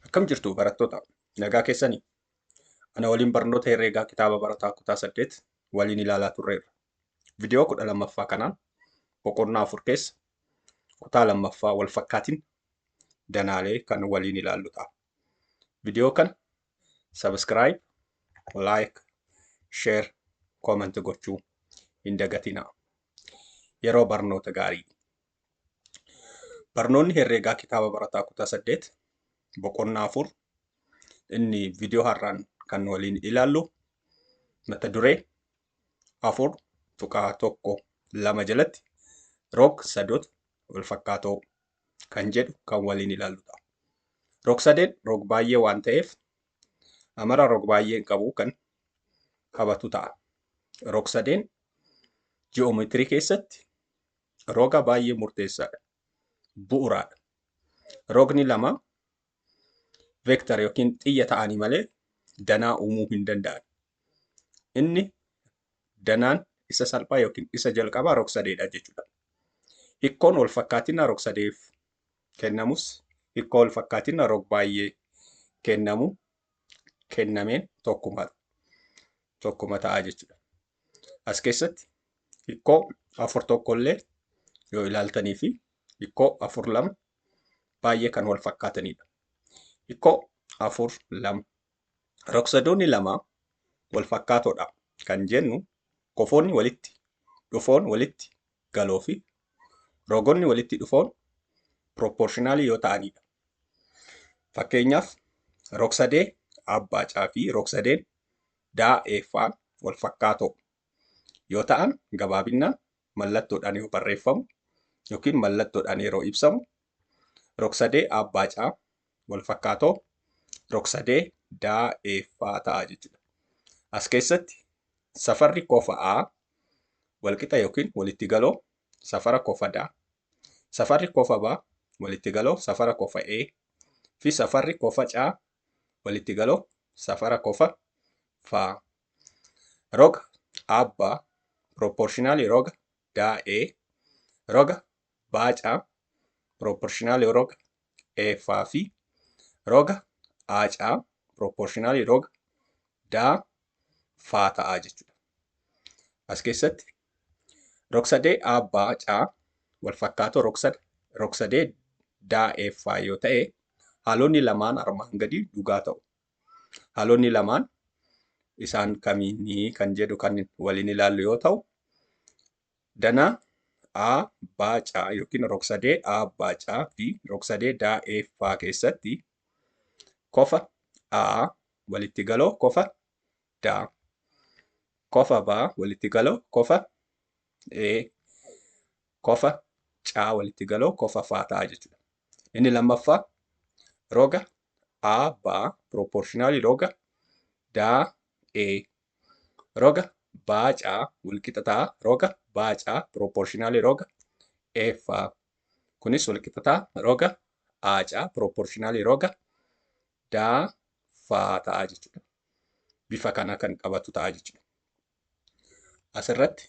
Akkam jirtu barattoota? Nagaa keessanii? Ana waliin barnoota herreegaa kitaaba barataa kutaa 8 waliin ilaalaa turreerra. Vidiyoo 12ffaa kanaan boqonnaa 4 keessa kutaa 2ffaa wal fakkaatiin danaalee kan waliin ilaallu ta'a. Vidiyoo kana subscribe, like, share, comment gochuu hin dagatinaa. Yeroo barnoota gaarii! Barnoonni herreegaa kitaaba barataa kutaa saddeet boqonnaa afur inni viidiyoo har'aan kan waliin ilaallu mata duree afur tuqaa tokko lama jalatti roog sadoota wal fakkaatoo kan jedhu kan waliin ilaalludha. Roog sadeen roog baay'ee waan ta'eef amara roog baay'een qabu kan qabatu ta'a. Roog sadeen ji'oomeetirii keessatti Roga baay'ee murteessaadha. Bu'uraadha. Rogni lama veektar yookiin xiyya ta'anii malee danaa uumuu hin danda'an. Inni danaan isa salphaa yookiin isa jalqabaa rogsadeedha jechuudha. Hikkoon wal fakkaatina rogsadeef kennamus hikkoo wal fakkaatina rog baay'ee kennamu kennameen tokkuma tokkuma ta'a jechuudha. As keessatti hikkoo afur tokko illee yoo ilaaltanii fi hikkoo afur lama baay'ee kan wal fakkaatanidha. Hikkoo afur lama. Rogsadoonni lama wal fakkaatoodha kan jennu kofoonni walitti dhufoon walitti galoo fi rogonni walitti dhufoon piroopporshinaalii yoo ta'anidha. Fakkeenyaaf rogsadee abbaa caa fi rogsadeen daa ee ffaan walfakkaatoo yoo ta'an gabaabinnaan mallattoodhaan yoo barreeffamu yookiin mallattoodhaan yeroo ibsamu rogsadee aabbaa caa walfakkaatoo rogsadee daa ee ffaa ta'a jechuudha. As keessatti safarri kofa aa walqixa yookiin walitti galoo safara kofa daa Safarri kofa B walittigaloo safara kofa A fi safarri kofa C walittigaloo safara kofa F. Roga aabbaa piroopporshinaalii roga daa A roga baacaa piroopporshinaalii roga F fi roga aacaa piroopporshinaalii roga daa F ta'a jechuudha. As keessatti Rogsadee A B C walfakkaatoo rogsada rogsadee D E F yoo ta'e haalonni lamaan armaan gadii dhugaa ta'u. Haalonni lamaan isaan kamiini kan jedhu kan waliin ilaallu yoo ta'u dana A B C yookiin rogsadee A B C fi rogsadee D E F keessatti kofa A walitti galoo kofa da. Kofa ba walitti galoo kofa e. Kofa ca walitti galoo kofa fa ta'a jechuudha. Inni lammaffaa roga a ba proportionally roga da e. Roga ba ca walqixa ta'a roga ba ca proportionally roga e fa. Kunis walqixa ta'a roga a ca proportionally roga da fa ta'a jechuudha. bifa kana kan qabatu ta'a jechuudha. Asirratti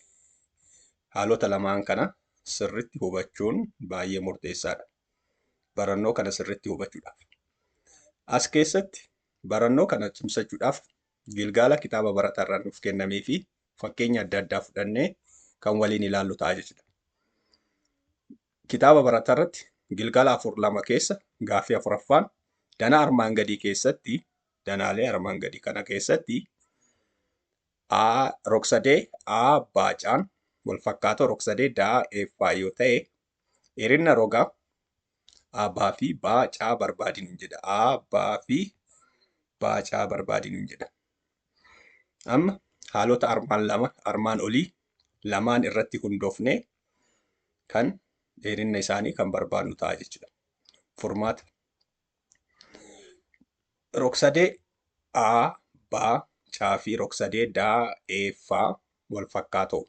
haalota lamaan kana sirritti hubachuun baay'ee murteessaadha. Barannoo kana sirritti hubachuudhaaf. As keessatti barannoo kana cimsachuudhaaf gilgaala kitaaba baratarraa nuuf kennamee fi fakkeenya adda addaa fudhannee kan waliin ilaallu ta'a jechuudha. Kitaaba baratarratti gilgaala afur lama keessa gaaffii afuraffaan danaa armaan gadii keessatti danaalee armaan gadi kana keessatti A rogsadee A baacaan wal fakkaatoo rogsadee daa eeffaa yoo ta'e dheerinna roga A baa fi baa caa barbaadinu jedha. A baa fi baa caa barbaadinu jedha. Amma haalota armaan lama armaan olii lamaan irratti hundoofne kan dheerinna isaanii kan barbaadnu ta'a jechuudha. Furmaata. Rogsadee A, B, C fi rogsadee D, E, F wal fakkaatoo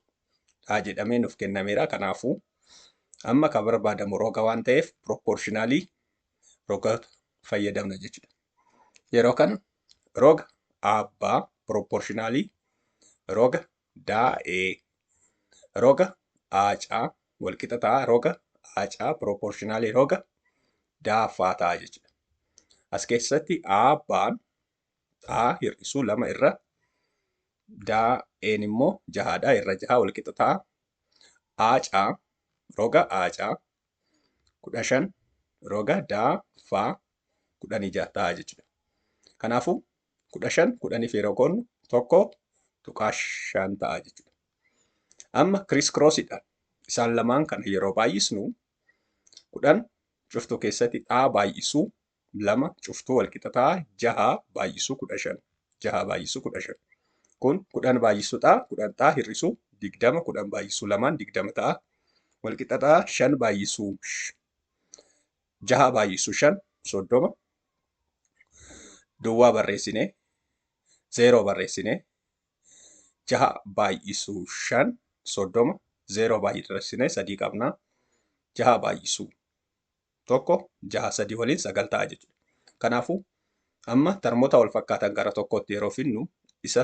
dha jedhamee nuuf kennameera. Kanaafuu amma kan barbaadamu roga waan ta'eef proportionally roga fayyadamna jechuudha. Yeroo kana roga A, B proportionally roga daa ee roga aa caa wal qixa ta'a roga aa caa proportionally roga daa ffaa ta'a jechuudha. As keessatti aa baan aa hir'isuu lama irra daa een immoo jahaadha irra jahaa wal qixa ta'a aa caa roga aa caa kudha shan roga daa ffaa kudhanii jaha ta'a jechuudha. Kanaafuu kudha shan kudhaniif yeroo qoodnu tokko tuqaa shan ta'a jechuudha. Amma kiriis kiroosidhaan isaan lamaan kana yeroo baay'isnu kudhan cuftuu keessatti xaa baay'isuu lama cuftuu walqixa ta'a jaha baay'isuu kudha shan jaha baay'isuu kudha shan kun kudhan baay'isuu xaa kudhan xaa hir'isuu digdama kudhan baay'isuu lamaan digdama ta'a walqixa ta'a shan baay'isuu jaha baay'isu shan soddoma duwwaa barreessine zeeroo barreessine jaha baay'isu shan soddoma zeeroo baay'isne sadii qabna jaha baay'isu tokko jaha sadii waliin sagal ta'a jechuudha. Kanaafuu amma tarmoota wal fakkaatan gara tokkootti yeroo finnu isa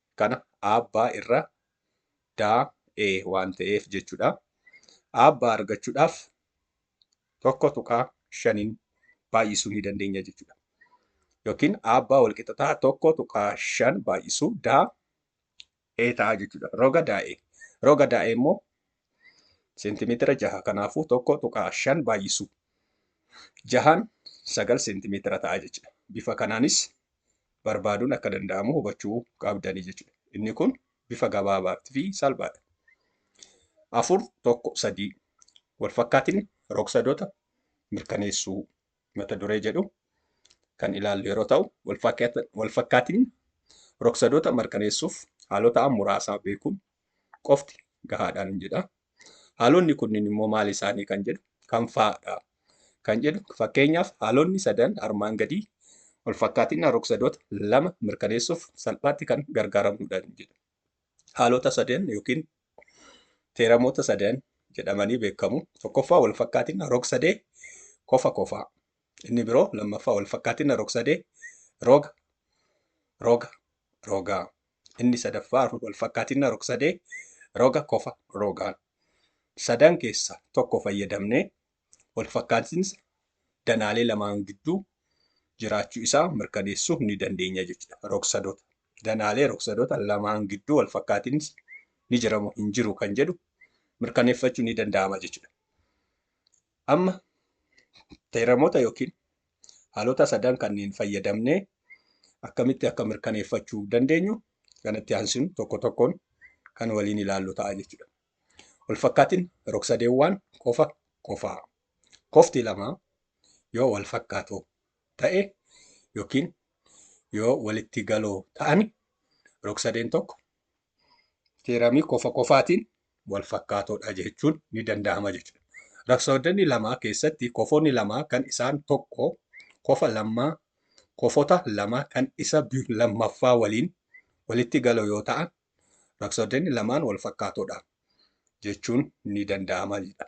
kana aabbaa irra daa, e waan ta'eef jechudha. Aabbaa argachudhaaf 1.5n baay'isuu ni dandeenya jechudha. Yookiin aabbaa walqixa ta'a 1.5 baay'isuu daa, e ta'a jechudha. Roga daa, e. Roga daa, e immoo seentimeetira jaha kanaafuu 1.5 baay'isuu jahaan 9 seentimeetira ta'a jechudha. Bifa kanaanis barbaaduun akka danda'amu hubachuu qabdanii jechuudha. Inni kun bifa gabaabaa fi salphaadha. Afur tokko sadii walfakkaatiin rogsadoota mirkaneessuu mata duree jedhu kan ilaallu yeroo ta'u walfakkaatiin rogsadoota mirkaneessuuf haalota muraasaa beekuun qofti gahaadhaan jedha. Haalonni kunniin immoo maal isaanii kan jedhu kam fa'a dha kan jedhu fakkeenyaaf haalonni sadan armaan gadii walfakkaatina rogsadoota lama mirkaneessuuf salphaatti kan gargaaramnudha jedhu. Haalota sadan yookiin teeramoota sadan jedhamanii beekamu. Tokkoffaa walfakkaatina rogsadee kofa kofaa. Inni biroo lammaffaa walfakkaatina rogsadee roga roga rogaa. Inni sadaffaa walfakkaatinna rogsadee roga kofa rogaan sadan keessa tokko fayyadamnee walfakkaatinsa danaalee lamaan gidduu jiraachuu isaa mirkaneessuu ni dandeenya jechuudha. Rogsadoota danaalee rogsadoota lamaan gidduu walfakkaatinsi ni jiramu hin jiru kan jedhu mirkaneeffachuu ni danda'ama jechuudha. Amma teeramoota yookiin Haalota sadan kanneen fayyadamnee akkamitti akka mirkaneeffachuu dandeenyu kanatti aansuun tokko tokkoon kan waliin ilaallu ta'a jechuudha. Walfakkaatiin rogsadeewwaan kofa kofaa. Kofti lama yoo wal fakkaatoo ta'e yookiin yoo walitti galoo ta'an rogsadeen tokko Teeramii kofa kofaatiin wal fakkaatoodha jechuun ni danda'ama jechuudha. Raksawaddanni lamaa keessatti kofoonni lamaa kan isaan tokko kofa lammaa kofota lama kan isa lammaffaa waliin walitti galo yoo ta'an raksawaddanni lamaan wal fakkaatoodha jechuun ni danda'ama jedha.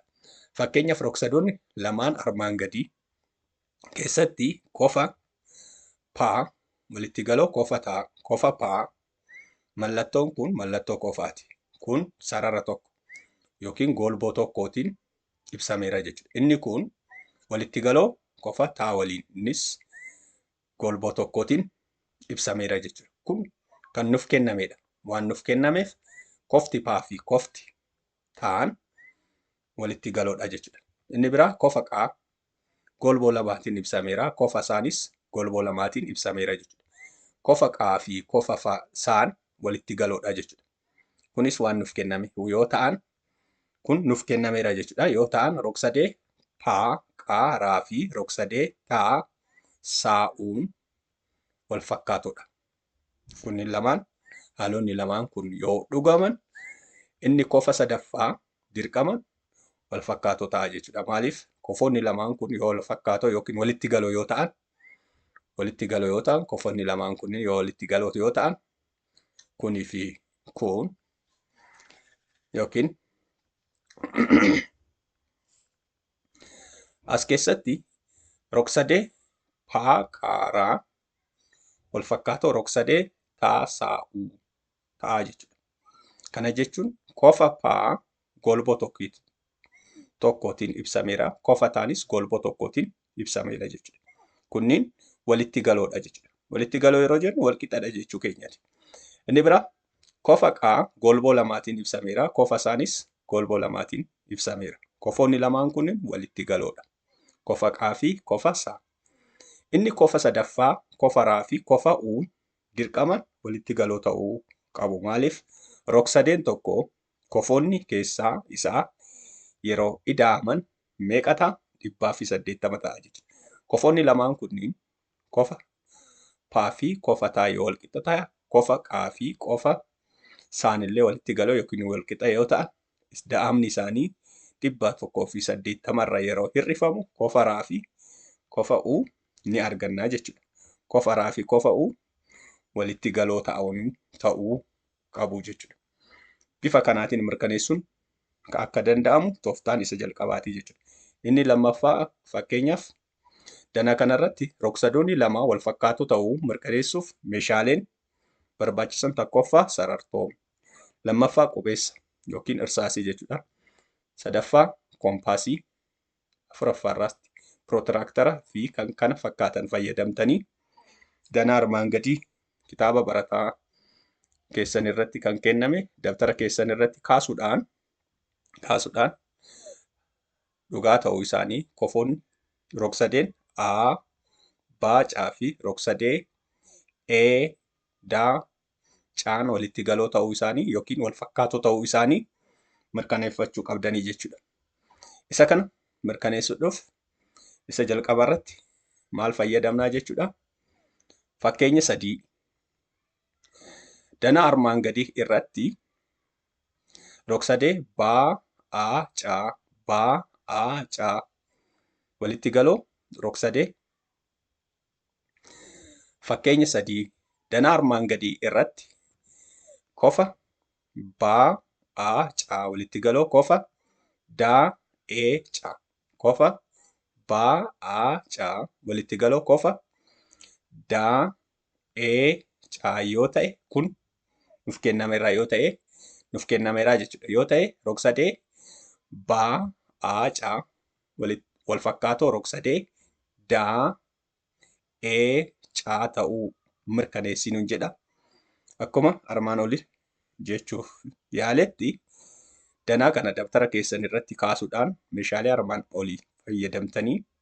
Fakkeenyaaf raksadoonni lamaan armaan gadii keessatti kofa paa walitti galoo kofa taa kofa paa Mallattoon kun mallattoo qofaati. Kun sarara tokko yookiin golboo tokkootiin ibsameera jechuudha. Inni kun walitti galoo qofa taa waliin innis golboo tokkootiin ibsameera jechuudha. Kun kan nuuf kennameedha. Waan nuuf kennameef kofti paa fi kofti taan walitti galoodha jechuudha. Inni biraa kofa qaa golboo lamaatiin ibsameera. Kofa isaanis golboo lamaatiin ibsameera jechuudha. Kofa qaa fi kofa fa saan walitti galoodha jechuudha. Kunis waan nuuf kenname yoo ta'an kun nuuf kennameera jechuudha. Yoo ta'an rogsadee paa, qaa, raa fi rogsadee taa, saa, uun wal fakkaatoodha. kunniin lamaan haalonni lamaan kun yoo dhugaman inni kofa sadaffaa dirqama wal fakkaatoo ta'a jechuudha. Maaliif kofoonni lamaan kun yoo wal fakkaatoo yookiin walitti galoo yoo ta'an walitti galoo yoo ta'an kofoonni lamaan kun yoo walitti galoo yoo ta'an kunii fi kun yookiin as keessatti rogsadee paa qaaraa walfakkaatoo rogsadee taa saa uu ta'aa jechuudha. Kana jechuun kofa paa golboo tokkit tokkootiin ibsameera. Kofa taanis golboo tokkootiin ibsameera jechuudha. Kunniin walitti galoodha jechuudha. Walitti galoo yeroo jennu walqixadha jechuu keenyati. Inni bira kofa qaa golboo lamaatiin ibsameera. Kofa isaanis golboo lamaatiin ibsameera. Kofoonni lamaan kunniin walitti galoodha. Kofa qaa fi kofa saa. Inni kofa sadaffaa kofa ra fi kofa u dirqaman walitti galoo ta'uu qabu. Maaliif? Rogsadeen tokko kofoonni keessaa isaa yeroo ida'aman meeqa ta'a? 180 ta'a jechuudha. Kofoonni lamaan kunniin kofa pa fi kofa ta yoo walqixa ta'an, kofa qa fi kofa saan illee walitti galoo yookiin walqixa yoo ta'an Isda'amni isaanii 180 irra yeroo hir'ifamu kofa ra fi kofa u ni arganna jechuudha. Kofa ra fi kofa u walitti galoo ta'aun ta'uu qabu jechuudha. Bifa kanaatiin mirkaneessuun akka danda'amu toftaan isa jalqabaati jechuudha. Inni lammaffaa fakkeenyaaf Danaa kana irratti rogsadoonni lamaa walfakkaatoo ta'uu mirkaneessuuf meeshaaleen barbaachisan tokkoffaa sarartoo, lammaffaa qubeessa yookiin irsaasii jechuudha. Sadaffaa koompaasii, afuraffaa irraatti pirootiraaktara fi kan kana fakkaatan fayyadamtanii danaa armaan gadii kitaaba barataa keessan irratti kan kenname dabtara keessan irratti kaasuudhaan kaasuudhaan dhugaa ta'uu isaanii kofoon rogsadeen A, B, C fi rogsadee E, D, C'n walitti galoo ta'uu isaanii yookiin wal fakkaatoo ta'uu isaanii mirkaneeffachuu qabdanii jechuudha. Isa kana mirkaneessuudhaaf isa jalqaba irratti maal fayyadamnaa jechuudha. Fakkeenya sadii dana armaan gadii irratti Rogsadee baa aa caa baa aa caa walitti galoo rogsadee fakkeenya sadii danaa armaan gadii irratti kofa baa aa caa walitti galoo kofa daa ee caa kofa baa aa caa walitti galoo kofa daa ee caa yoo ta'e kun nuf kennameera yoo ta'e nuf kennameera jechuudha yoo ta'e rogsadee baa aa caa walitti wal fakkaatoo rogsadee daa ee caa ta'uu mirkaneessii nun jedha akkuma armaan oli jechuuf yaaletti danaa kana dabtara keessan irratti kaasuudhaan meeshaalee armaan olii fayyadamtanii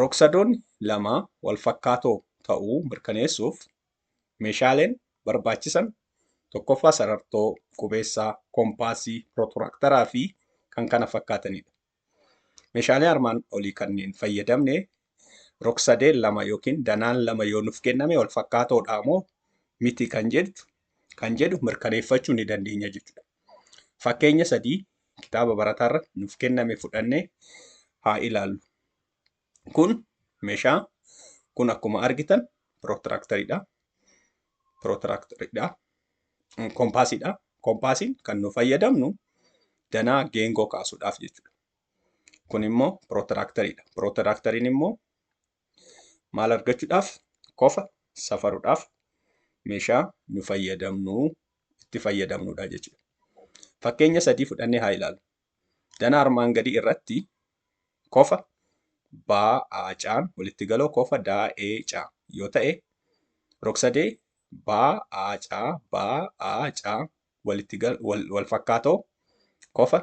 Rogsadoonni lama walfakkaatoo ta'uu mirkaneessuuf meeshaaleen barbaachisan tokkoffaa sarartoo, qubeessaa, kompaasii, pirotiraaktaraa fi kan kana fakkaatanidha. Meeshaalee armaan olii kanneen fayyadamne Rogsadeen lama yookiin danaan lama yoo nuuf kenname wal fakkaatoodha moo miti kan jedhu kan jedhu mirkaneeffachuu ni dandeenya jechuudha. Fakkeenya sadii kitaaba barataarra nuuf kenname fudhannee haa ilaallu. Kun meeshaa kun akkuma argitan pirootiraaktariidha. Pirootiraaktariidha. Kompaasiidha. Kompaasiin kan nu fayyadamnu danaa geengoo kaasuudhaaf jechuudha. Kun immoo pirootiraaktariidha. Pirootiraaktariin immoo maal argachuudhaaf? Kofa safaruudhaaf meeshaa nu fayyadamnu itti fayyadamnudha jechuudha. Fakkeenya sadii fudhannee haa ilaalu. Dana armaan gadii irratti kofa baa aacaan walitti galoo kofa daa ee caa yoo ta'e rogsadee baa aacaa baa aacaa walitti wal fakkaatoo kofa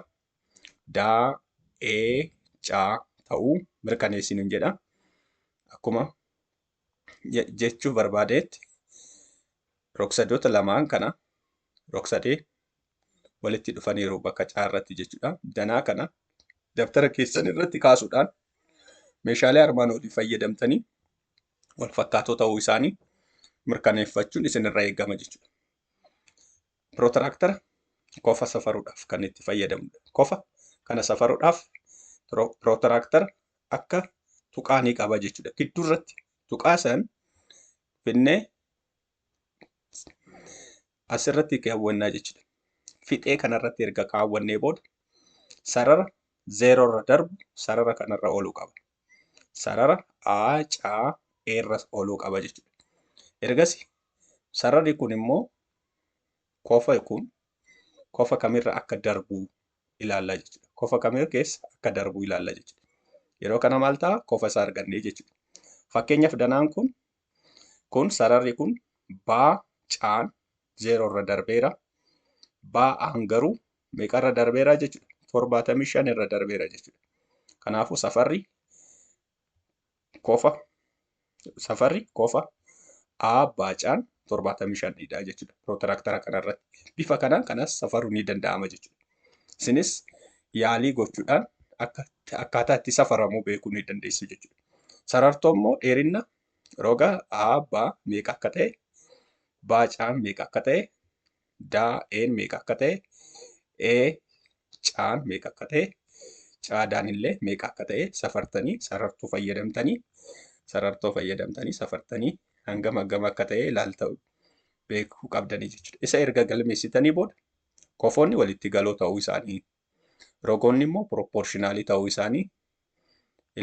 daa, ee, caa ta'uu mirkaneessi nun jedha. Akkuma jechuuf barbaadeetti rogsadoota lamaan kana rogsadee walitti dhufaniiru bakka caa irratti jechuudha. Danaa kana dabtara keessan irratti kaasuudhaan meeshaalee armaan olii fayyadamtanii wal fakkaatoo ta'uu isaanii mirkaneeffachuun isinirra eegama jechuudha. Pirootiraaktara kofa safaruudhaaf kan itti fayyadamudha. Kofa kana safaruudhaaf pirootiraaktara akka tuqaa ni qaba jechuudha. Gidduu irratti tuqaa san finnee asirratti kaawwannaa jechuudha. Fixee kanarratti erga kaawwannee booda sarara zeeroo irra darbu sarara kanarra ooluu qaba. sarara A, C, A irra ooluu qaba jechuudha. Ergasi sararri kun immoo kofa kun kofa kamirra akka darbu ilaalla jechuudha. Kofa kamirra keessa akka darbu ilaalla jechuudha. Yeroo kana maal ta'a? Kofa isaa argannee jechuudha. Fakkeenyaaf danaan kun kun sararri kun baa caan zeeroo irra darbeera. Baa aan garuu meeqa irra darbeera jechuudha? torbaatamii shan irra darbeera jechuudha. Kanaafuu safarri kofa safarri kofa A baacaan torbaatamii shan dha jechuudha. Pirootiraaktara kanarratti bifa kanaan kanas safaruun ni danda'ama jechuudha. Isinis yaalii gochuudhaan akka akkaataa itti safaramu beekuu ni dandeessu jechuudha. Sarartoo immoo dheerina roga A B meeqa akka ta'e baacaan meeqa akka ta'e daa een meeqa akka ta'e ee caan meeqa akka ta'e caadaan illee meeqa akka ta'e safartanii sarartuu fayyadamtanii sarartoo fayyadamtanii safartanii hangam hangam akka ta'e ilaalta beekuu qabdanii jechuudha. Isa erga galmeessitanii booda kofoonni walitti galoo ta'uu isaanii Rogoonni immoo piroopporshinaalii ta'uu isaanii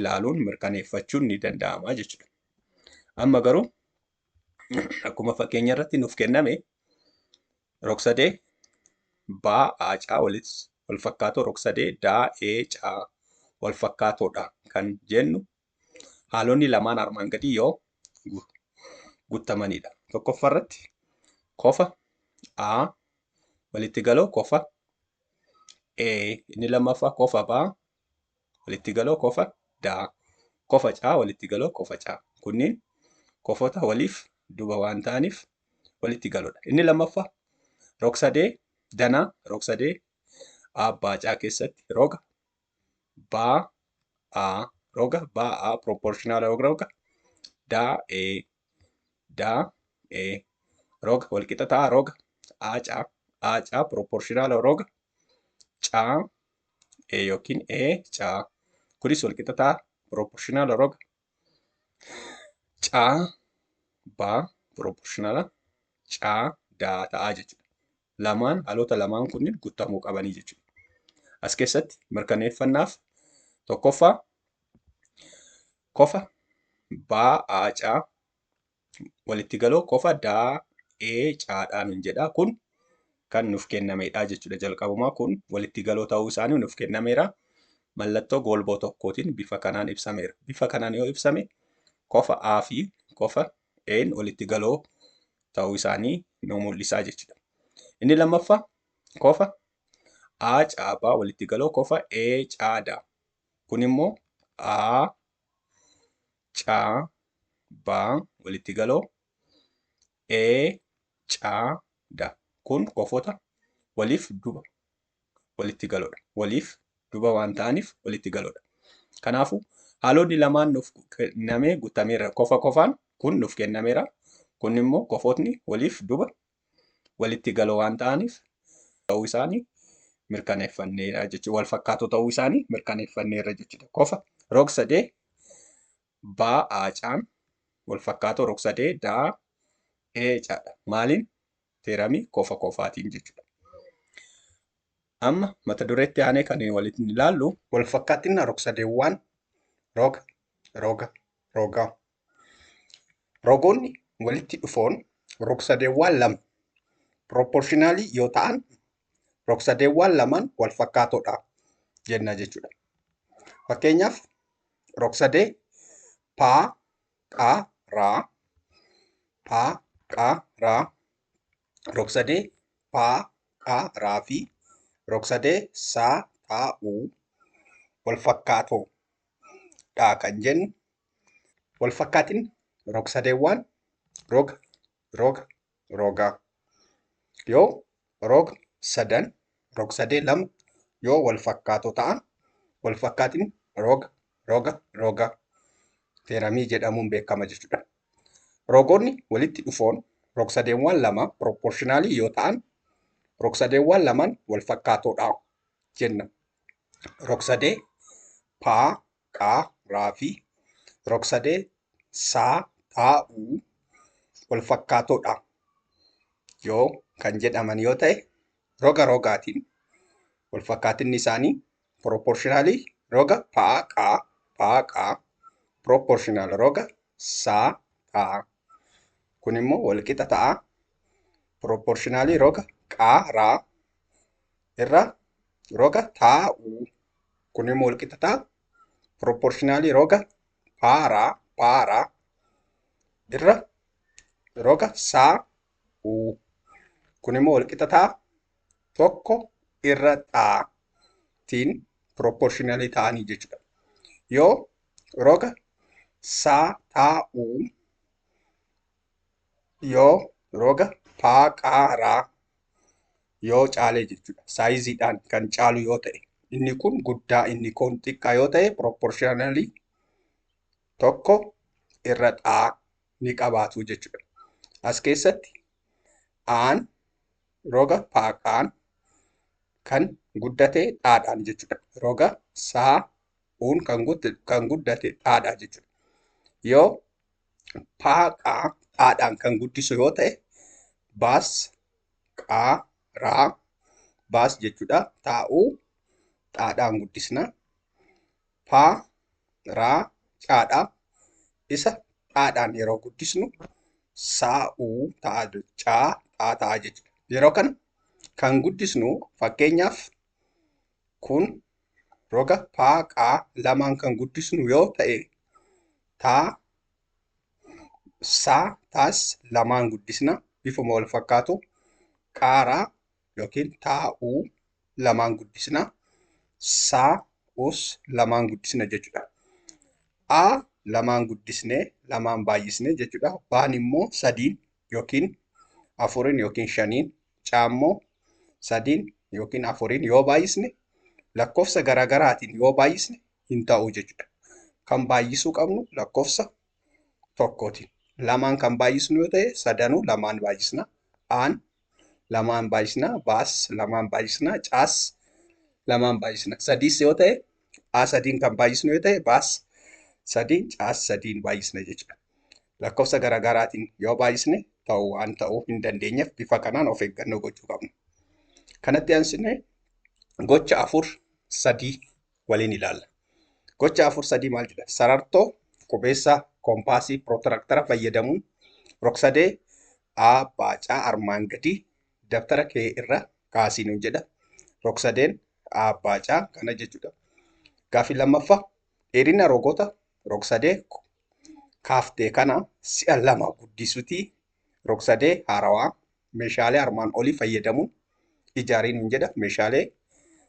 ilaaluun mirkaneeffachuun ni danda'ama jechuudha. Amma garuu akkuma fakkeenya irratti nuuf kenname rogsadee baa aacaa walitti wal fakkaatoo rogsadee daa ee caa wal fakkaatoodha kan jennu Haalonni lamaan armaan gadii yoo guttamanidha. Tokkoffaa irratti kofa A walitti galoo kofa A inni lammaffaa kofa B walitti galoo kofa D kofa C walitti galoo kofa C kunniin kofota waliif duba waan ta'aniif walitti galoodha. Inni lammaffaa rogsadee danaa rogsadee abbaa C keessatti roga ba'a roga ba'a proportional roga roga da e da e roga wal qixa ta'a roga aaca aaca proportional roga ca e yookiin e ca kunis wal qixa ta'a proportional roga Caa baa piroopoorshinala caa daa ta'aa jechuudha. Lamaan haalota lamaan kunniin guutamuu qabanii jechuudha. As keessatti mirkaneeffannaaf tokkoffaa kofa baa aa caa walitti galoo qofa daa ee caadhaa nun jedha kun kan nuuf kennameedha jechuudha jalqabumaa kun walitti galoo ta'uu isaanii nuuf kennameera mallattoo goolboo tokkootiin bifa kanaan ibsameera bifa kanaan yoo ibsame kofa a fi kofa een walitti galoo ta'uu isaanii nu mul'isaa jechuudha inni lammaffaa kofa a caabaa walitti galoo kofa e caadaa kun immoo a ca ba walitti galoo e ca da kun kofota waliif duba walitti galoodha waliif duba waan ta'aniif walitti galoodha kanaafu haalonni lamaan nuuf kennamee guttameera kofa kofaan kun nuuf kennameera kun immoo kofotni waliif duba walitti galoo waan ta'aniif ta'uu isaanii mirkaneeffanneera jechuudha. Wal fakkaatoo ta'uu isaanii mirkaneeffanneera jechuudha. Kofa rog sadee baa aacaan wal fakkaatoo rog sadee daa eecaadha. Maaliin? Teeramii kofa kofaatiin jechuudha. Amma mata dureetti aanee kan walitti ilaallu wal fakkaatina rog sadeewwaan roga roga rogaa Rogoonni walitti dhufoon rogsadeewwaan lama piroopporshinaalii yoo ta'an rogsadeewwaan lamaan wal fakkaatoodha jenna jechuudha. Fakkeenyaaf rogsadee paa qaa raa paa qaa raa rogsadee paa qaa raa fi rogsadee saa taa uu wal fakkaatoo dha kan jennu Walfakkaatin rogsadeewwaan roga, roga, rogaa. Yoo rog sadan rogsadee lama yoo walfakkaatoo ta'an walfakkaatin roga, roga, rogaa teeramii jedhamuun beekama jechuudha. Rogoonni walitti dhufoon rogsadeewwaan lama piroopporshinaalii yoo ta'an rogsadeewwaan lamaan walfakkaatoodha jenna. Rogsadee paa qa, ra fi rogsadee sa, ta, u walfakkaatoo dha yoo kan jedhaman yoo ta'e, roga rogaatiin walfakkaatinni isaanii proportionally roga pa, qa, pa, qa, proportional roga sa, ta. Kun immoo walqixa ta'a proportionally roga qa, ra, irra roga taa u kun immoo walqixa taa proportionalii roga paara paara irra roga saa u kun immoo walqixa taa tokko irra taa tiin proportionalii ta'anii jechuudha. Yoo roga saa taa u Yoo roga paa qaa raa yoo caalee jechuudha. Saayiziidhaan kan caalu yoo ta'e. Inni kun guddaa inni kun xiqqaa yoo ta'e proportionally tokko irra xaa ni qabaatu jechuudha. As keessatti aan roga paaqaan kan guddate dhaadhaan jechuudha. Roga saa uun kan guddate dhaadhaa jechuudha. Yoo paa qaa dhaadhaan kan guddisu yoo ta'e baas qaa raa baas jechuudha taa'uu dhaadhaan guddisna paa raa caadhaa isa dhaadhaan yeroo guddisnu saa'uu ta'a caa dhaa ta'a jechuudha yeroo kana kan guddisnu fakkeenyaaf Kun roga pa, qa lamaan kan guddisnu yoo ta'e ta, sa, tas lamaan guddisna bifuma wal fakkaatu qaara yookiin ta, u lamaan guddisna sa, us lamaan guddisna jechuudha. a lamaan guddisne lamaan baay'isne jechuudha. baan immoo sadiin yookiin afurin yookiin shaniin caammoo sadiin yookiin afuriin yoo baay'isne lakkoofsa garaagaraatiin yoo baay'isne hin ta'u jechuudha. Kan baay'isuu qabnu lakkoofsa tokkootiin. Lamaan kan baay'isnu yoo ta'e sadanuu lamaan baay'isna. Aan lamaan baay'isna. Baas lamaan baay'isna. Caas lamaan baay'isna. Sadiis yoo ta'e a sadiin kan baay'isnu yoo ta'e baas sadiin caas sadiin baay'isna jechuudha. Lakkoofsa garaagaraatiin yoo baay'isne ta'u waan ta'uu hin dandeenyeef bifa kanaan of eeggannoo gochuu qabna. Kanatti aansinee gocha afur sadii waliin ilaalla. Gocha afur sadii maal jedha? Sarartoo, qubeessaa, koompaasii, pirootiraaktara fayyadamuun rogsadee A baacaa armaan gadii Dabtara kee irra kaasii nuun jedha. Rogsadeen aabbaacaa kana jechuudha. Gaaffii lammaffa dheerina rogota rogsadee kaaftee kana si'a lama guddisuutii rogsadee haarawaa meeshaalee armaan olii fayyadamuun ijaarii nuun jedha. Meeshaalee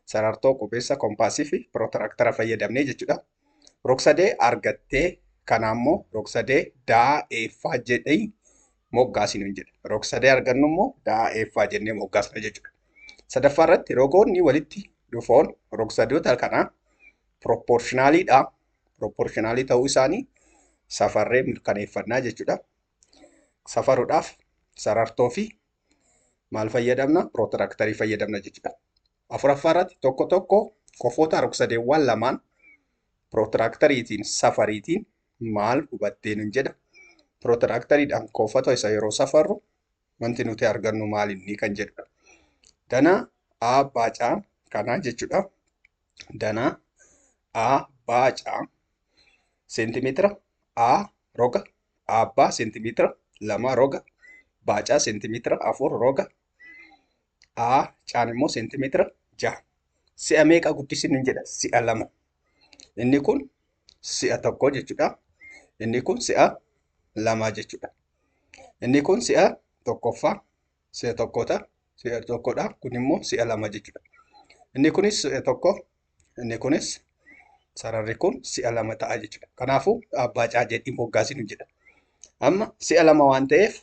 sarartoo, qubeessa, kompaasii fi pirootiraaktara fayyadamnee jechuudha. Rogsadee argattee kanaa immoo rogsadee daa eeffaa jedhee moggaasi nuun jedhe. Rogsadee argannu immoo daa eeffaa jennee moggaasna jechuudha. Sadaffaa irratti rogoonni walitti dhufoon rogsadoota kanaa pirooppoorshinaaliidha. Pirooppoorshinaali ta'uu isaanii safarree mirkaneeffannaa jechuudha. Safaruudhaaf sarartoo fi maal fayyadamna? Pirootiraktarii fayyadamna jechuudha. Afuraffaa irratti tokko tokko kofoota rogsadeewwan lamaan pirootiraaktariitiin safariitiin maal hubattee nun jedha. Pirootiraaktariidhaan kofota isa yeroo safarru wanti nuti argannu maal inni kan jedhudha. Danaa A baacaa kanaa jechuudha. Danaa A baacaa seentimeetira A roga abbaa seentimeetira lama roga baacaa seentimeetira afur roga A caan immoo seentimeetira jaha. Si'a meeqa guddisinu hin jedha? Si'a lama. Inni kun si'a tokko jechuudha. Inni kun si'a lama jechuudha. Inni kun si'a tokkoffaa, si'a tokkoota, si'a tokkodha. Kun immoo si'a lama jechuudha. Inni kunis si'a tokko, inni kunis sararri kun si'a lama ta'a jechuudha. Kanaafuu abbaa caa jedhii moggaasinu jedha. Amma si'a lama waan ta'eef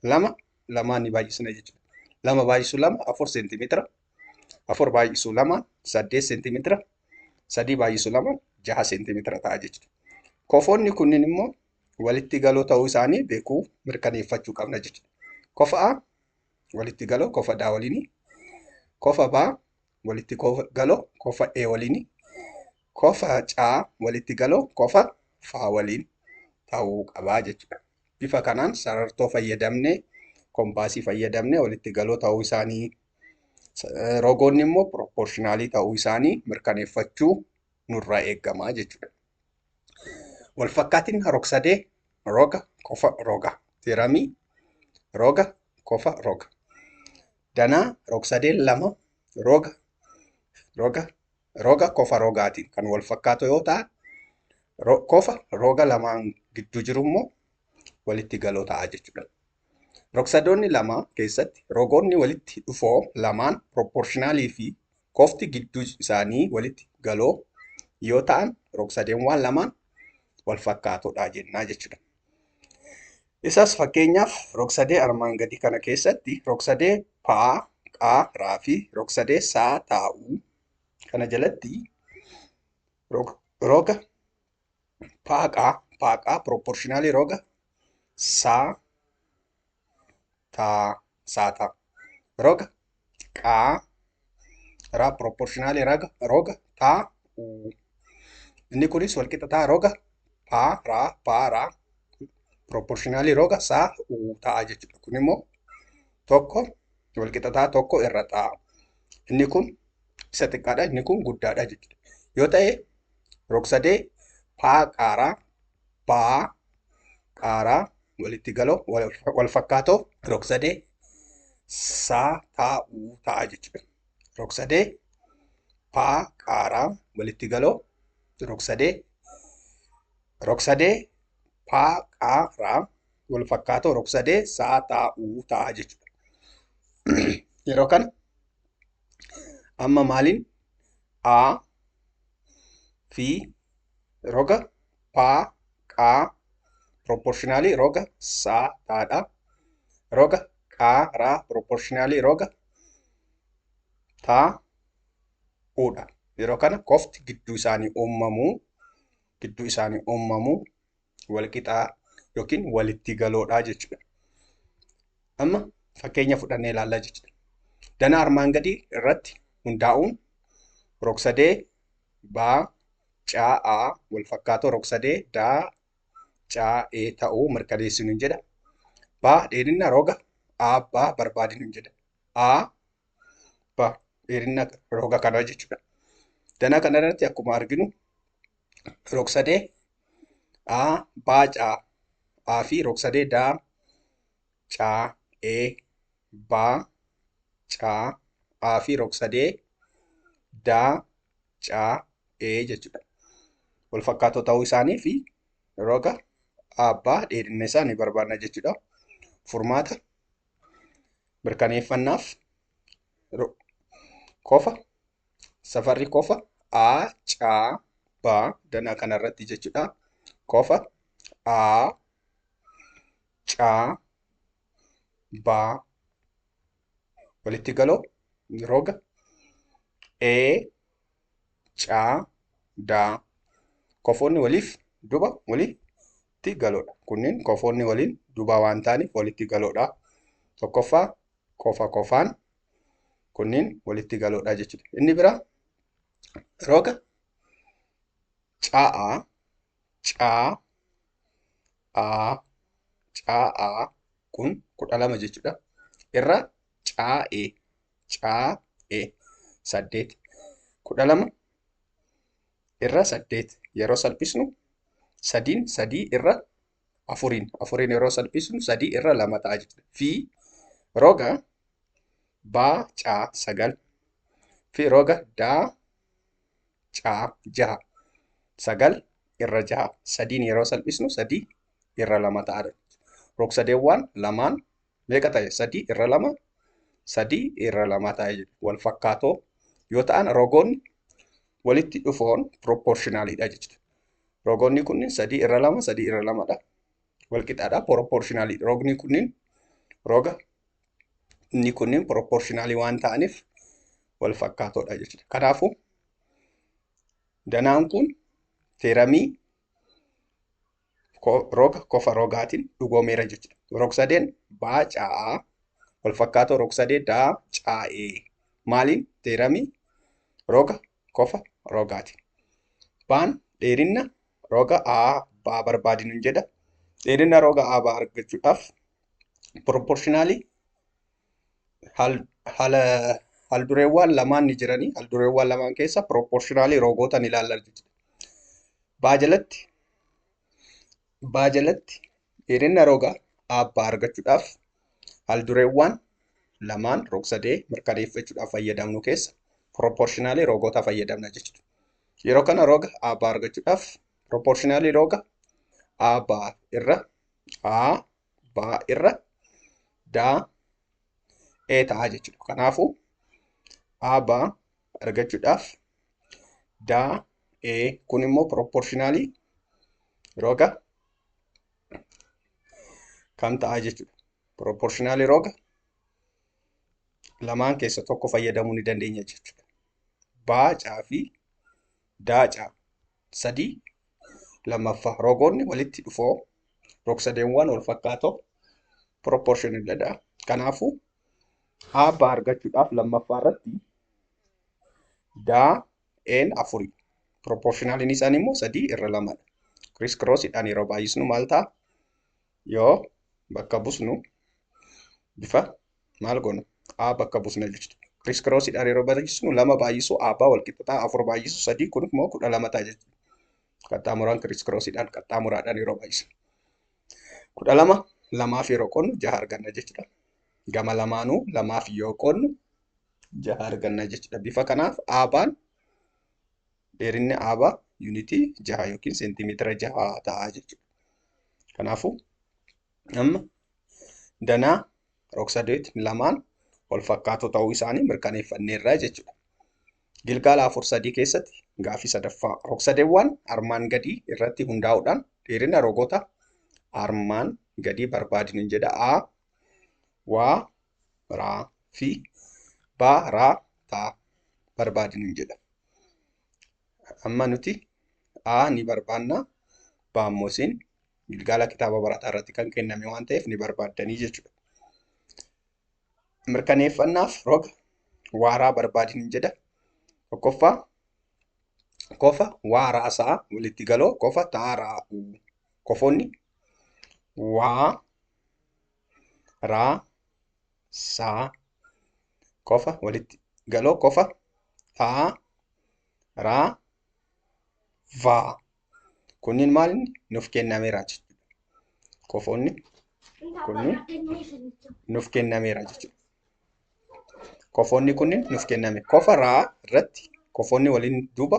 lama lamaan ni baay'isna jechuudha. Lama baay'isu lama afur seentimeetira. Afur baay'isu lama saddeet seentimeetira. Sadii baay'isu lama jaha seentimeetira ta'a jechuudha. Kofoonni kunniin immoo walitti galoo ta'uu isaanii beekuu mirkaneeffachuu qabna jechuudha. Kofa A walitti galoo kofa D waliini. Kofa B walitti galoo kofa E waliini. Kofa C walitti galoo kofa F waliin ta'uu qabaa jechuudha. Bifa kanaan sarartoo fayyadamne, kompaasii fayyadamne walitti galoo ta'uu isaanii, rogoonni immoo piroopporshinaalii ta'uu isaanii mirkaneeffachuu nurraa eegama jechuudha. Walfakkaatiin rogsadee roga kofa roga tiramii roga kofa roga danaa rogsadeen lama roga roga Roga kofa rogaatiin kan wal fakkaatu yoo ta'an, kofa roga lamaan gidduu jiru immoo walitti galoo ta'a jechuudha. Rogsadoonni lama keessatti rogoonni walitti dhufoo lamaan piroopporshinaalii fi kofti gidduu isaanii walitti galoo yoo ta'an rogsadeewwan lamaan wal fakkaatoodha jennaa jechuudha. Isas fakkeenyaaf rogsadee armaan gadii kana keessatti rogsadee paa, qaa, raa fi rogsadee saa, taa, uu kana jalatti rog, roga paaqaa paaqaa proportionally roga saa, taa, saataa roga qaa raa proportionaali raga roga taa uu inni kunis walqixa taa roga paa raa paa raa proportionaali roga saa uu ta'a jechuudha kun immoo tokko walqixa taa tokko irra ta'a inni kun isa xiqqaadha inni kun guddaadha jechuudha yoo ta'e rogsadee paa qaaraa ba'aa qaaraa walitti galoo wal fakkaatoo rogsadee saa taa uu ta'a jechuudha. Rogsadee paa qaaraa walitti galoo rogsadee rogsadee paa qaaraa wal fakkaatoo rogsadee saa taa uu ta'a jechuudha. Yeroo kana amma maaliin a fi roga paa qaa proportionally roga saa taadha roga qaa raa proportionally roga taa uudha yeroo kana kofti gidduu isaanii uumamuu gidduu isaanii uumamuu walqixaa yookiin walitti galoodhaa jechuudha. Amma fakkeenya fudhannee ilaallaa jechuudha. Danaa armaan gadii irratti hundaa'uun rogsadee baa caa a wal fakkaatoo rogsadee daa caa e ta'uu mirkaneessinu hin jedha. Baa dheerinna roga a baa barbaadinu hin jedha. A baa dheerinna roga kanaa jechuudha. Danaa kana irratti akkuma arginu rogsadee a baa caa a fi rogsadee daa caa e baa caa a fi rogsadee daa caa e jechuudha. Wal fakkaatoo ta'uu isaanii fi roga abbaa dheerinna isaa ni barbaadna jechuudha. Furmaata mirkaneeffannaaf ro- kofa safarri kofa a ca ba danaa kana irratti jechuudha kofa a ca ba walitti galoo roga e ca da kofoonni waliif duba walitti galoodha kunneen kofoonni waliin dubaa waan ta'aniif walitti galoodha tokkoffaa qofa qofaan kunniin walitti galoodha jechuudha. Inni bira roga ca'a caa a ca'a kun kudha lama jechuudha. Irra caa'e caa'e saddeet kudha lama irra saddeet yeroo salphisnu sadiin sadii irra afuriin afuriin yeroo salphisnu sadii irra lama ta'a jechuudha. Fi roga baa caa sagal fi roga daa caa jaha sagal irra jaha sadiin yeroo salphisnu sadii irra lama ta'a. Rogsadeewwan lamaan meeqa ta'e? Sadii irra lama sadii irra lama ta'e wal fakkaatoo yoo ta'an rogoonni walitti dhufoon piroopporshinaalidha jechuudha. Rogoonni kunniin sadii irra lama sadii irra lamadha. Wal qixaadha piroopporshinaalidha. Rogni kunniin roga inni kunniin piroopporshinaalii waan ta'aniif wal fakkaatoodha jechuudha. Kanaafuu danaan kun teeramii roga kofa rogaatiin dhugoomeera jechuudha. Rogsadeen baa caa walfakkaatoo rogsadee daa caa'ee maaliin teeramii roga kofa rogaatiin. Baan dheerinna roga A baa barbaadinu jedha. Dheerinna roga A baa argachuudhaaf proportionally haldureewwan lamaan ni jiranii haldureewwan lamaan keessa piroopporshinaalii roogoota ni ilaalla jechuudha. Baajalatti baajalatti dheerina roga abbaa argachuudhaaf haldureewwan lamaan rogsadee mirkaneeffachuudhaaf fayyadamnu keessa piroopporshinaalii roogoota fayyadamna jechuudha. Yeroo kana roga abbaa argachuudhaaf piroopporshinaalii roga abbaa irra a baa irra daa ee ta'a jechuudha. Kanaafuu aa baa argachuudhaaf daa ee kun immoo proportionaalii roga kam ta'a jechuudha. Proportionaalii roga lamaan keessa tokko fayyadamuu ni dandeenya jechuudha. Baa caa fi Daaca. 3. Lammaffaa rogoonni walitti dhufoo rogsadeewwan wal fakkaatoo proportional dha. Kanaafuu aabba argachuudhaaf lammaffaa irratti daa een afurii proportionaliin isaanii immoo sadii irra lamadha. Kiriis kiroosiidhaan yeroo baay'isnu maal ta'a? yoo bakka busnu bifa maal goonu a bakka busna jechuudha. Kiriis kiroosiidhaan yeroo barreessinu lama baay'isuu a baa walqixxataa afur baay'isuu sadii kun immoo kudha lama ta'a jechuudha. Qaxxaamuraan kiriis kiroosiidhaan qaxxaamuraadhaan yeroo baay'isnu. Kudha lama lamaaf yeroo qoodnu jaha arganna jechuudha. Gama lamaanuu lamaaf yoo qoodnu jaha arganna jechuudha. Bifa kanaaf a baan Dheerinni aabaa yuunitii jaha yookiin seentimeetira jaha ta'a jechuudha. Kanaafuu amma danaa rogsadeet lamaan wal fakkaatoo ta'uu isaanii mirkaneeffanneerra jechuudha. Gilgaala afur sadii keessatti gaafii sadaffaa rogsadeewwan armaan gadii irratti hundaa'uudhaan dheerina rogota armaan gadii barbaadni jedha. A waa raa fi baa raa taa barbaadi nuun jedha. Amma nuti A ni barbaanna baa immoo isin gilgaala kitaaba barataa irratti kan kenname waan ta'eef ni barbaaddanii jechuudha. Mirkaneeffannaaf roga waaraa barbaadi nuun jedha. Tokkoffaa kofa waa raasaa walitti galoo kofa taa raa'uu kofoonni waa raa saa qofa walitti galoo qofa dhaa raa vaa kunniin maal inni nuuf kennameera jechuudha. Qofoonni kunniin nuuf kennameera jechuudha. Qofoonni kunniin nuuf kenname qofa raa irratti qofoonni waliin duuba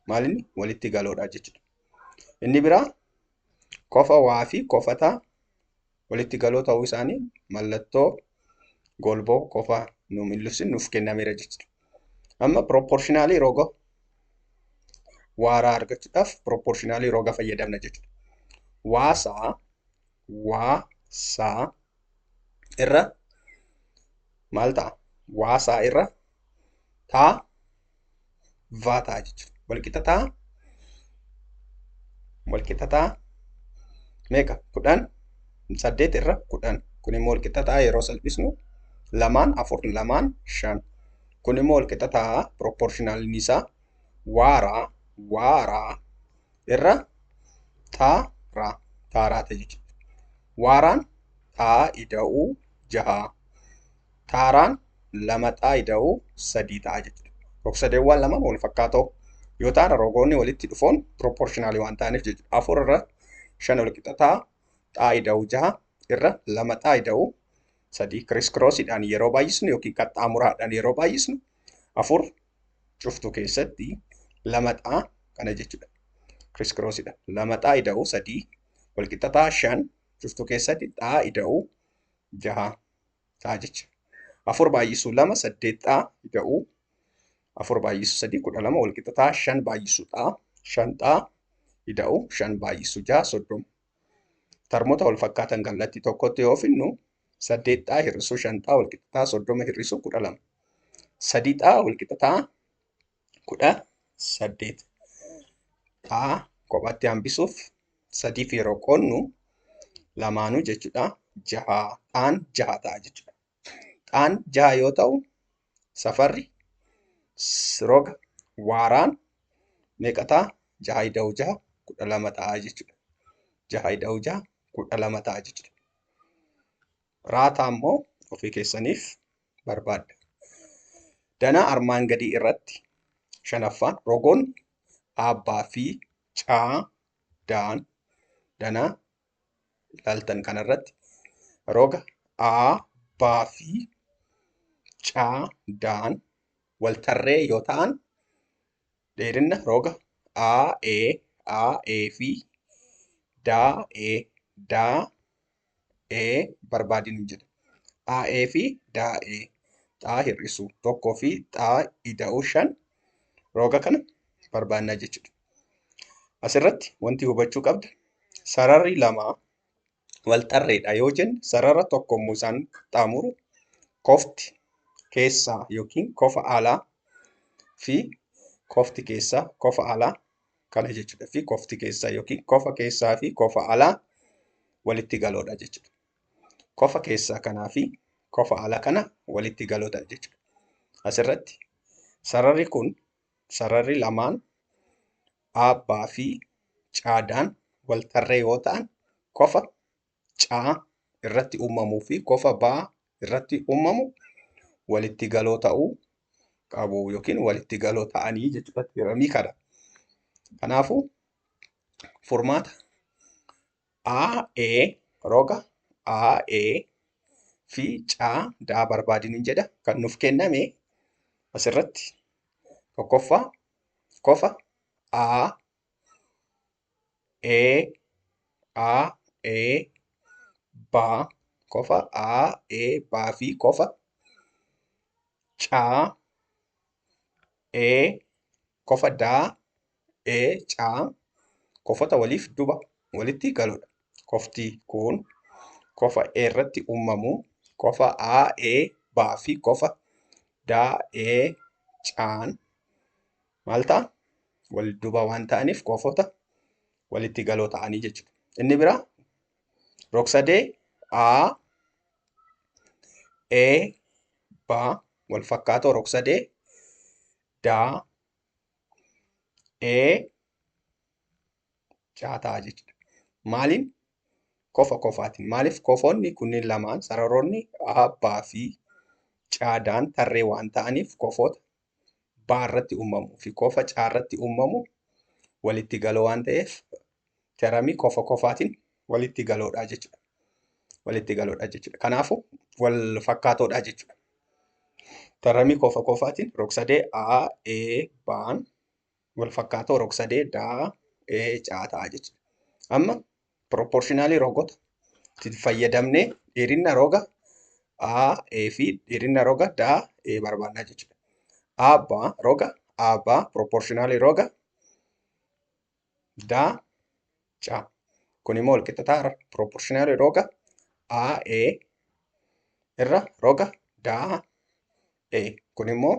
maal inni walitti galoodha jechuudha. Inni biraa Kofa waa fi kofata walitti galoo ta'uu isaanii mallattoo golboo kofaa nu mil'ifsin nuuf kennameera jechuudha. Amma piroopporshinaalii roga waaraa argachuudhaaf piroopporshinaalii roga fayyadamna jechuudha. Waasaa waasaa irra maal ta'a? Waasaa irra taa vaa ta'a jechuudha. Walqixa taa walqixa taa meeqa kudhan saddeet irra kudhan kun immoo walqixa taa yeroo salphisnu lamaan afur lamaan shan kun immoo walqixa taa piroopporshinaalni isaa waaraa waaraa irra taaraa taaraa ta'e jechuudha. Waaraan taa ida'uu jahaa taaraan lama ta'a ida'u sadii ta'a jechuudha. Rogsadeewwan lama wal fakkaatoo yoo ta'an rogoonni walitti dhufoon pirooporshinaalii waan ta'aniif jechuudha. Afur irra shan wal qixa ta'a ta'a ida'u jaha irra lama ta'a ida'u sadii kiriis kiroosiidhaan yeroo baay'isnu yookiin qaxxaamuraadhaan yeroo baay'isnu afur cuftuu keessatti lama ta'a kana jechuudha. Kiriis kiroosiidhaan lama ta'a ida'u sadii wal qixa ta'a shan cuftuu keessatti ta'a ida'u jaha. ta'a jecha. Afur baay'isuu lama saddeet ta'a ida'uu. Afur baay'isuu sadii kudha lama wal qixa ta'a shan baay'isuu ta'a shan ta'a ida'uu shan baay'isuu ja'a soddoma. Tarmoota wal fakkaatan kallattii tokkotti yoo finnu saddeet ta'a hir'isuu shan ta'a wal qixa ta'a soddoma hir'isuu kudha lama. Sadii ta'a wal qixa ta'a kudha saddeet a kophaatti hambisuuf sadiif yeroo qoonnu lamaanuu jechuudha jaha dhaan jaha ta'a jechuudha. Dhaan jaha yoo ta'u safarri roga waaraan meeqa ta'a? Jaha ida'uu jaha kudha lama ta'a jechuudha. Jaha ida'uu jaha kudha lama ta'a jechuudha. Raataa immoo ofii keessaniif barbaadda. Danaa armaan gadii irratti shanaffaan rogoon aabbaa fi caa daan danaa ilaaltan kana irratti roga aa baa fi caa daan wal tarree yoo ta'an dheerinna roga aa ee aa ee fi daa ee daa ee barbaadi nu jedhe. Aa'ee fi daa'ee xaa hir'isu tokkoo fi xaa ida'uu shan rooga kana barbaannaa jechuudha. Asirratti wanti hubachuu qabdu sararri lama wal tarreedha yoo jenne sarara tokko immoo isaan qaxxaamuru kofti keessaa yookiin kofa alaa fi kofti keessaa kofa alaa kana jechuudha fi kofti keessaa yookiin kofa keessaa fi kofa alaa walitti galoodha jechuudha. Kofa keessaa kanaa fi kofa alaa kana walitti galoodha jechuudha. Asirratti sararri kun sararri lamaan aabbaa fi caadaan wal tarree yoo ta'an kofa C irratti uumamuu fi kofa B irratti uumamu walitti galoo ta'uu qabu yookiin walitti galoo ta'anii jechuudha tiyoramii kana. Kanaafuu furmaata AA roga AA fi C daa barbaadiniin jedha kan nuuf kenname asirratti tokkoffaa kofa A e a e ba qofa a e ba fi qofa ca e qofa da e ca qofota waliif duba walitti galudha. Qofti kun qofa e irratti uumamu qofa a e ba fi qofa da e caan maal ta'a? Wal duuba waan ta'aniif koofoota walitti galoo ta'anii jechuudha. Inni biraa rogsadee A, E, B wal fakkaatoo rogsadee D, E, C ta'a jechuudha. Maaliin? Kofa kofaatiin. Maaliif kofoonni kunniin lamaan sararoonni A, B fi C tarree waan ta'aniif kofoota baa irratti uumamu fi kofa caa irratti uumamu walitti galoo waan ta'eef teramii kofa kofaatiin walitti galoodha jechuudha. Walitti galoodha jechuudha. Kanaafuu wal fakkaatoodha jechuudha. Teramii kofa kofaatiin rogsadee A, E, baan wal fakkaatoo rogsadee daa ee caa ta'a jechuudha. Amma piroopporshinaalii rogota fayyadamnee dheerina roga A, A fi dheerina roga daa ee barbaannaa jechuudha. A baa roga A baa piroopporshinaalii roga daa caa. Kun immoo wal qixxataa irra piroopporshinaalii roga A, A irra roga daa ee. Kun immoo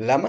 lama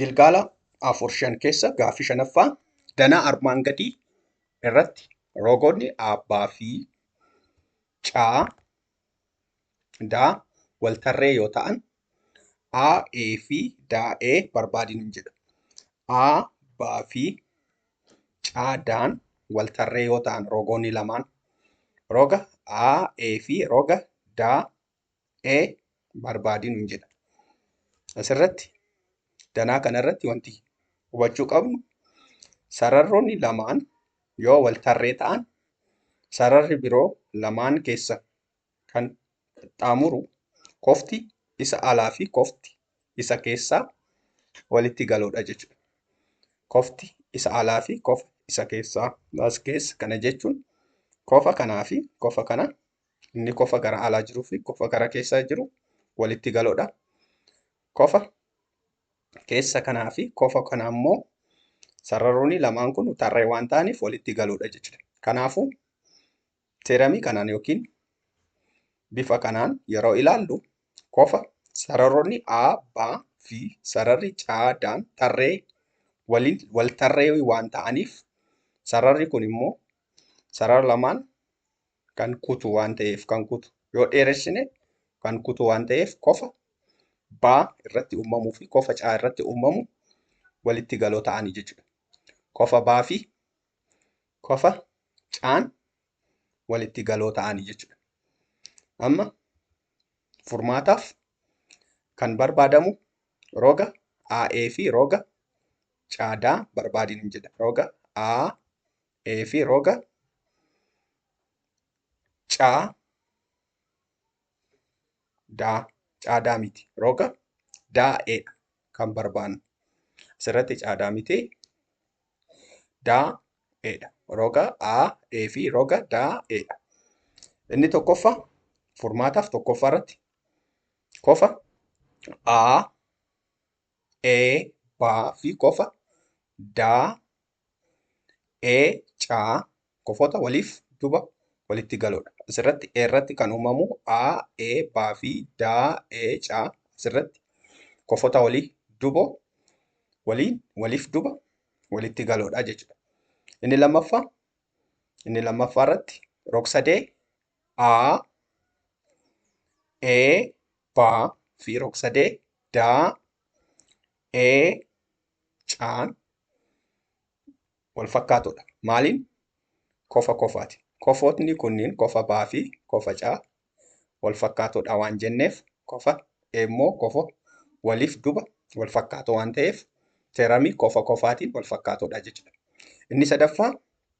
gilgaala afur shan keessa gaaffii shanaffaa danaa armaan gadii irratti rogoonni abbaa fi caa daa wal tarree yoo ta'an a e fi daa e barbaadin hin jedha a baa fi caa daan wal tarree yoo ta'an rogoonni lamaan roga a e fi roga daa e barbaadi nuun jedha. Asirratti danaa kanarratti wanti hubachuu qabnu sararroonni lamaan yoo wal tarree ta'an sararri biroo lamaan keessa kan qaxxaamuru kofti isa alaa fi kofti isa keessaa walitti galoodha jechuudha. Kofti isa alaa fi kofa isa keessaa as keessa kana jechuun kofa kanaa fi kofa kana Inni kofa gara alaa jiruu fi kofa gara keessaa jiru walitti galoodha. Kofa keessa kanaa fi kofa kana ammoo sararoonni lamaan kun tarree waan ta'aniif walitti galoodha jechuudha. Kanaafuu teeramii kanaan yookiin bifa kanaan yeroo ilaallu kofa sararoonni A, B fi sararri C, D tarree waliin wal tarree waan ta'aniif sararri kun immoo sarara lamaan kan kutu waan ta'eef kan kutu yoo dheeressine kan kutu waan ta'eef kofa baa irratti uumamuu fi kofa caa irratti uumamu walitti galoo ta'anii jechuudha. Kofa baa fi kofa caan walitti galoo ta'anii jechuudha. Amma furmaataaf kan barbaadamu roga AE fi roga caadaa barbaadin jedha. Roga A ee fi roga caa daa caadaa miti roga daa'eedha kan barbaannu asirratti caadaa miti daa'eedha roga a e fi roga daa'eedha inni tokkoffa furmaataaf tokkoffaa irratti kofa a e baa fi kofa daa e ca kofoota waliif duba walitti galoodha. Asirratti e irratti kan uumamu a, e, ba fi da, e, ca asirratti kofoota walii dubo waliin waliif duba walitti galoodha jechuudha. Inni lammaffaa inni lammaffaa irratti rogsadee a, e, ba fi rogsadee da, e, caan wal fakkaatoodha. Maaliin? Kofa kofaati. Kofootni kunniin kofa baa fi kofa caa wal fakkaatoodha waan jenneef kofa immoo kofa waliif duba wal fakkaatoo waan ta'eef teeramii kofa kofaatiin wal fakkaatoodha jechuudha. Inni sadaffaa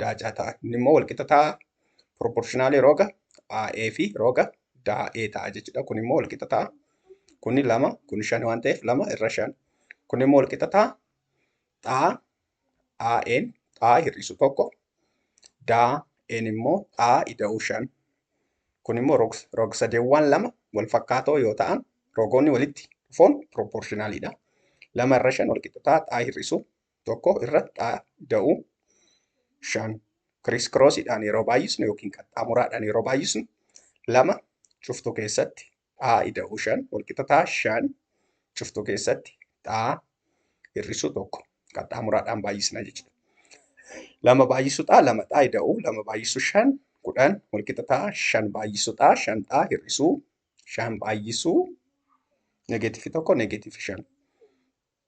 daacaa ta'a. Inni immoo walqixa ta'a proportionally roga AE fi roga DAE ta'a jechuudha. Kun immoo walqixa ta'a. Kuni lama, kuni shan waan ta'eef lama irra shan. Kun immoo walqixa ta'a. Xaa AE'n xaa hir'isu tokko. DAE'n immoo xaa ida'uu shan. Kun immoo rog, rog sadeewwan lama wal fakkaatoo yoo ta'an rogoonni walitti dhufoon proportionalidha. Lama irra shan walqixa ta'a xaa hir'isu tokko irra dhaada'u. shan kiriis kiroosiidhaan yeroo baay'isnu yookiin qaxxaamuraadhaan yeroo baay'isnu lama cuftuu keessatti xaa ida'uu shan walqixa ta'a shan cuftuu keessatti xaa hir'isuu tokko qaxxaamuraadhaan baay'isna jechuudha. Lama baay'isuu xaa lama xaa ida'uu lama baay'isuu shan kudhan walqixa ta'a shan baay'isuu xaa shan xaa hir'isuu shan baay'isuu negeetifi tokko negeetifi shan.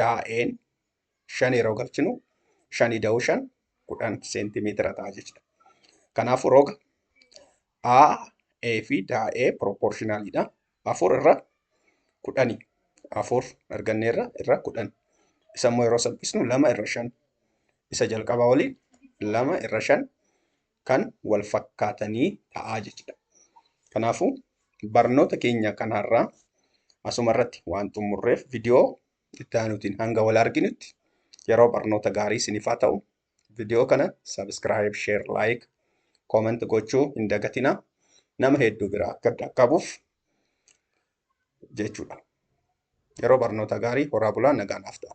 daa'een shan yeroo galchinu shanii da'uu shan kudhan seentimeetira ta'a jechuudha. Kanaafuu roga A, A fi daa'ee piroopoorshinaalidha. Afur irra kudhani. Afur argannee irra irra kudhan. Isa immoo yeroo salphisnu lama irra shan. Isa jalqabaa waliin lama irra shan kan wal fakkaatanii ta'aa jechuudha. Kanaafuu barnoota keenya kan har'aa asuma irratti waan xumurreef viidiyoo itti aanutiin hanga wal arginutti yeroo barnoota gaarii isiniif haa ta'u. Viidiyoo kana sabiskiraayib, sheer, laayik, koomenti gochuu hin dagatinaa. Nama hedduu biraa akka dhaqqabuuf jechuudha. Yeroo barnoota gaarii horaa bulaa nagaan haaf ta'a.